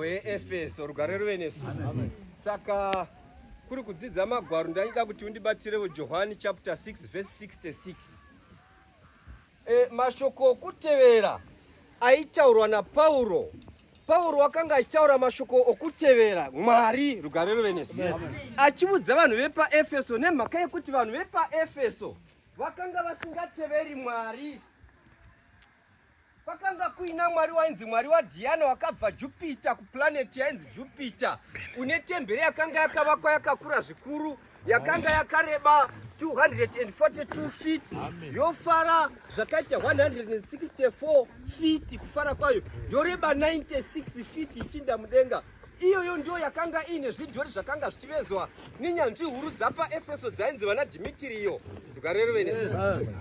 weefeso rugare ruve nesu saka kuri kudzidza magwaro ndaida kuti undibatirevo johani chapter 6 verse 66 e, mashoko okutevera aitaurwa napauro pauro wakanga achitaura mashoko okutevera mwari rugare ruve nesu yes. achivudza vanhu vepaefeso nemhaka yekuti vanhu vepaefeso vakanga vasingateveri mwari Kwakanga kuina mwari wainzi mwari waDhiana wakabva Jupiter kuplaneti yainzi Jupiter, une tembere yakanga yakavakwa yakakura zvikuru, yakanga yakareba 242 feet yofara zvakaita 164 feet kufara kwayo, yoreba 96 feet ichinda mudenga. Iyoyo ndiyo yakanga iine zvidhori zvakanga zvichivezwa nenyanzvi huru dzapaEfeso dzainzi vana Dhimitiriyo. Ndikarereve nesu.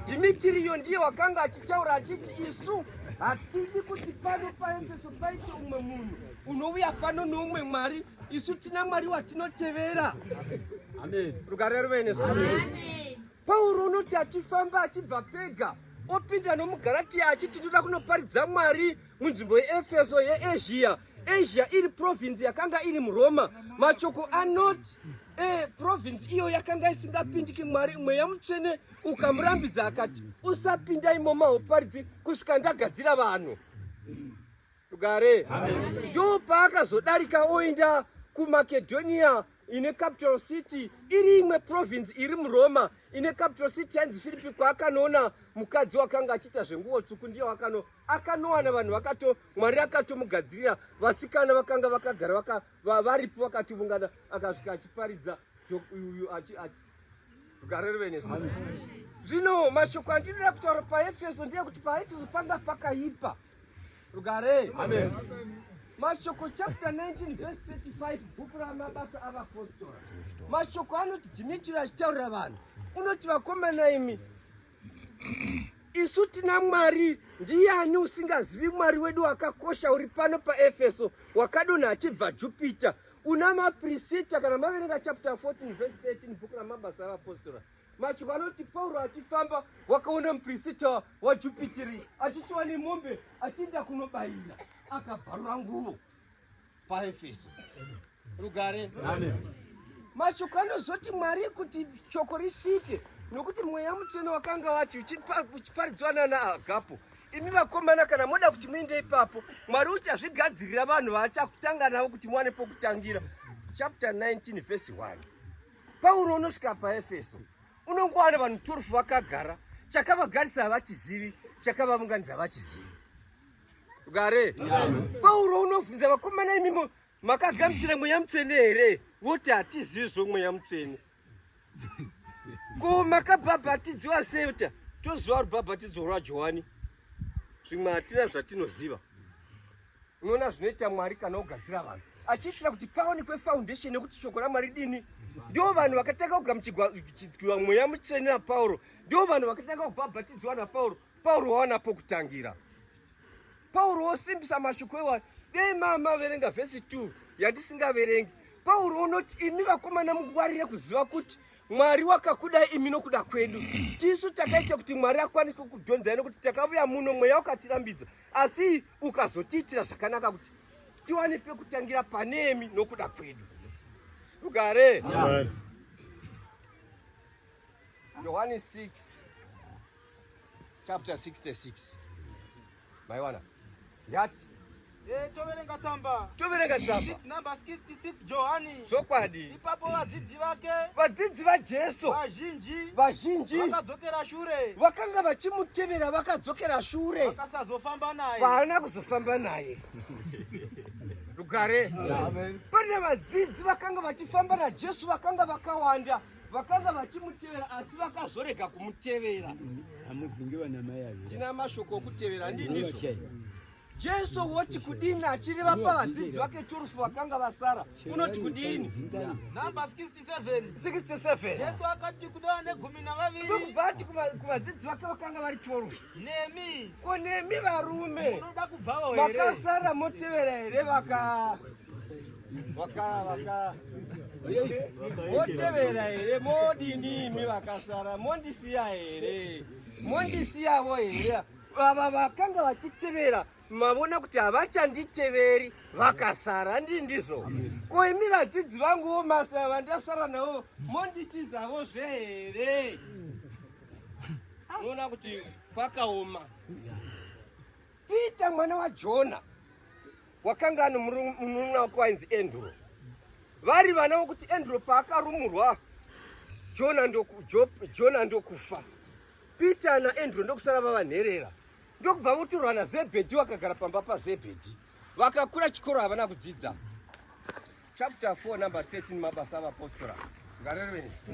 Dhimitiriyo ndiye wakanga achitaura achiti isu hatidi kuti pano paEfeso paite umwe munhu unouya pano noumwe mwari isu tina mwari watinotevera rugare ruve nesu pauro unoti achifamba achibva pega opinda nomugaratiya achiti ndoda kunoparidza mwari Munzvimbo yeEfeso yeEzhiya, Asia iri province yakanga iri muRoma. Mashoko anoti eh, province iyo yakanga isingapindiki Mwari mweya mutsvene ukamurambidza akati usapinda imomo hauparidzi kusvika ndagadzira vanhu rugare. Ndoo paakazodarika oenda kuMakedhoniya ine capital city iri imwe province iri muroma ine capital city yanzi filipi kwaakanoona mukadzi wakanga achiita zvenguvo tsvuku ndiye wakano akanowana vanhu vakato mwari akatomugadzirira vasikana vakanga vakagara vaka, va, varipo vakativungana akasvika achiparidza uyu gare rive nesu zvino mashoko andinoda kutaura paefeso ndeyekuti paefeso panga pakaipa pa Rugare. Amen. Mashoko chapter 19 verse 35 bhuku ramabasa avapostora. Mashoko anoti Dhimitiri achitaurira vanhu unoti vakomana imi isu tina mwari ndiyani usingazivi mwari wedu wakakosha uri pano paefeso wakadonha achibva jupita una maprisita kana maverenga chapter 14 verse 13 bhuku ramabasa avapostora Macho vanoti Pauro achifamba wakaona mupirisita waJupiteri achitiwa nemombe achienda kunobayira akabvarura nguvo paefeso rugare mashoko anozoti mwari kuti shoko risvike nokuti mweya mutsvene wakanga wacho uchiparidzwa nana agapo imi vakomana kana moda kuti muinde ipapo mwari uchazvigadzirira vanhu vaachakutanga navo kuti muwane pokutangira chapter 19 vhesi 1 Pauro unosvika paEfeso unongowana vanhu 12 vakagara chakavagarisa havachizivi chakavaunganidza havachizivi gare pauro unobvunza vakomana imimo makagamuchira mweya mutsvene here voti hatizivi zvo mweya mutsvene ko makabhabhatidziwa seuta toziva rubhabhatidzo rwajohani zvimwe hatina zvatinoziva Unoona zvinoita Mwari kana ogadzira vanhu achiitira kuti paonekwe foundation yekuti shoko ramwari dini ndivo vanhu vakatanga kugamuchidzwa mweya mutsvene napauro ndivo vanhu vakatanga kubhabhatidzwa napauro pauro wawana pokutangira pauro wosimbisa mashoko ewa dei maamaverenga vhesi 2 yandisingaverengi pauro wonoti imi vakomana mungwarire kuziva kuti mwari wakakudai imi nokuda kwedu tisu takaita kuti mwari akwanise kudhonzai nokuti takavuya muno mweya wakatirambidza Asi ukazotiitira zvakanaka kuti tiwane pekutangira panemi nokuda kwedu. Rugare. Amen. Yohani 6 chapter 66 maiwana yati eh, toverenga tsamba toverenga tsamba chokwadi Ipapo vadzidzi vake vadzidzi vaJesu vazhinji vazhinji vakadzokera shure vakanga vachimutevera vakadzokera shure vakasazofamba naye vaana kuzofamba naye rugare pane vadzidzi vakanga vachifamba naJesu vakanga vakawanda vakanga vachimutevera asi vakazorega kumutevera hamuzingi vana mai tina mashoko okutevera ndindizo Jesu woti kudini achireva pavadzidzi vake turufu vakanga vasara unoti kudini? Namba 67. 67. Jesu akati kudava negumi navaviri. Ndokubva ati kuvadzidzi vake vakanga vari turufu. Nemi. Ko nemi varume. Munoda kubvawo here? Makasara motevera here vaka vaka vaka motevera here modini imi vakasara mondisiya here mondisiyavo here Baba vakanga vachitevera mavona kuti havachanditeveri vakasara ndi ndizvo ko imi vadzidzi vangu wo masta vandasara navo monditizavo zve here unoona kuti kwakaoma peter mwana wajona wakanga ani munun'una wake wainzi andrew vari vana vokuti andrew paakarumurwa jona ndokufa Peter naAndrew ndokusara vava nherera ndokubva votorwa naZebhedhi wakagara pamba paZebhedhi. Vakakura chikoro havana kudzidza. Chapter 4 number 13 mabasa avapostora. Ngarerweni.